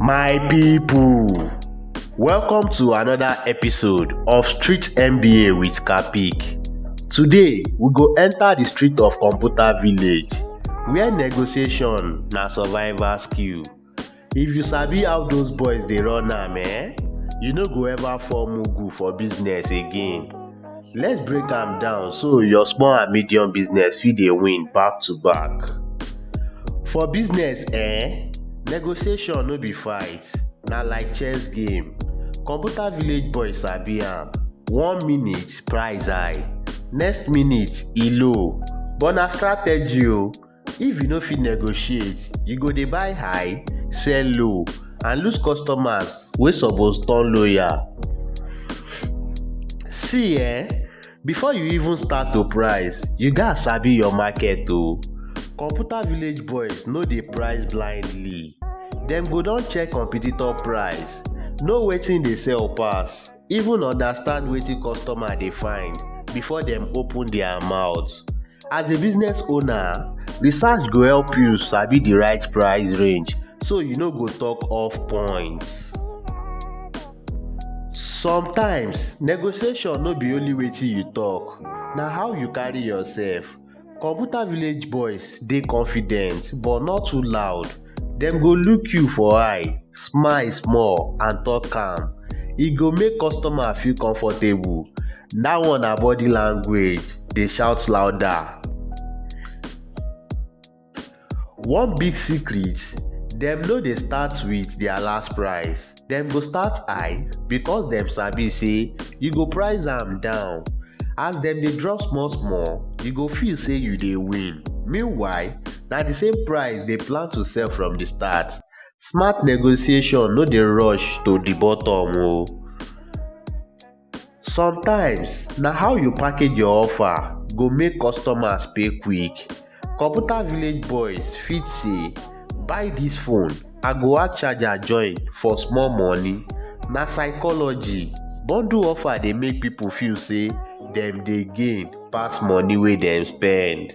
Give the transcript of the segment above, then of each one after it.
My people, welcome to another episode of Street MBA with Kapik. Today, we go enter the street of Computer Village, where negotiation na survival skill. If you sabi how those boys dey run am, eh, you no go ever fall mugu for business again. Let's break am down so your small and medium business fit dey win back to back. For business eh, negotiation no be fight, na like chess game. Computer village boy sabi am, one minute price high, next minute e low but na strategy o. If you no fit negotiate, you go dey buy high, sell low and lose customers wey suppose turn loyal. See um before you even start to price, you gats sabi your market o. Computer village boys no dey price blindly, dem go don check competitor price, know wetin dey sell pass. Even understand wetin customer dey find before dem open their mouth. As a business owner, research go help you sabi the right price range so you no go talk off point. Sometimes, negotiation no be only wetin you talk, na how you carry yourself. Computer village boys dey confident but no too loud, dem go look you for eye, smile small and talk calm. E go make customer feel comfortable, dat one na body language dey shout louder. One big secret, dem no dey start with their last price, dem go start high because dem sabi say you go price am down. As dem dey drop small small, you go feel say you dey win. Meanwhile, na the same price dey plan to sell from the start. Smart negotiation no dey rush to the bottom o. Sometimes, na how you package your offer go make customers pay quick. Computer village boys fit say, buy this phone, I go add charger join for small money. Na psychology. Bundle offer dey make people feel say dem dey gain pass money wey dem spend.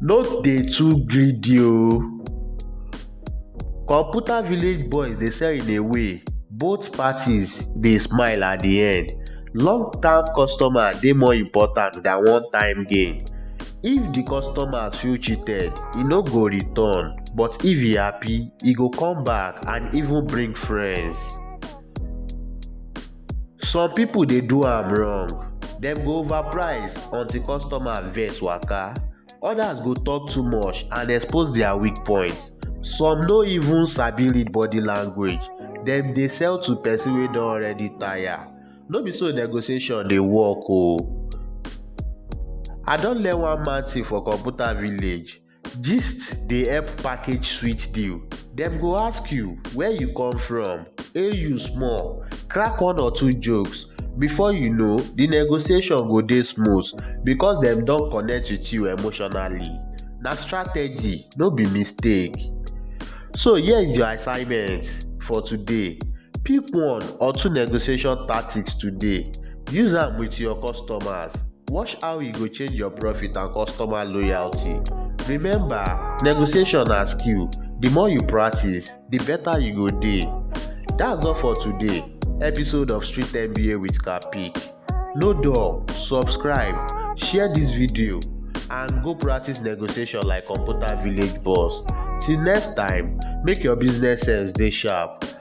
No dey too greedy o. Computer village boys dey sell in a way, both parties dey smile at the end. Long term customer dey more important than one time gain. If the customer feel cheated, e no go return but if e happy, e go come back and even bring friends. some people dey do am wrong dem go overprice until customer vex waka others go talk too much and expose their weak point some no even sabi read body language dem dey sell to person wey don already tire no be so negotiation dey work oo i don learn one man thing for computer village Gist dey help package sweet deal. Dem go ask you where you come from, hail you small, crack one or two jokes. Before you know, the negotiation go dey smooth because dem don connect with you emotionally. Na strategy, no be mistake. So here is your assignment for today. Pick one or two negotiation tactics today. Use am with your customers. Watch how e go change your profit and customer loyalty. Remember, negotiation na skill. The more you practice, the better you go dey. That's all for today. Episode of Street MBA with Kapik. No dull, subscribe, share this video, and go practice negotiation like computer village boss. Till next time, make your business sense dey sharp.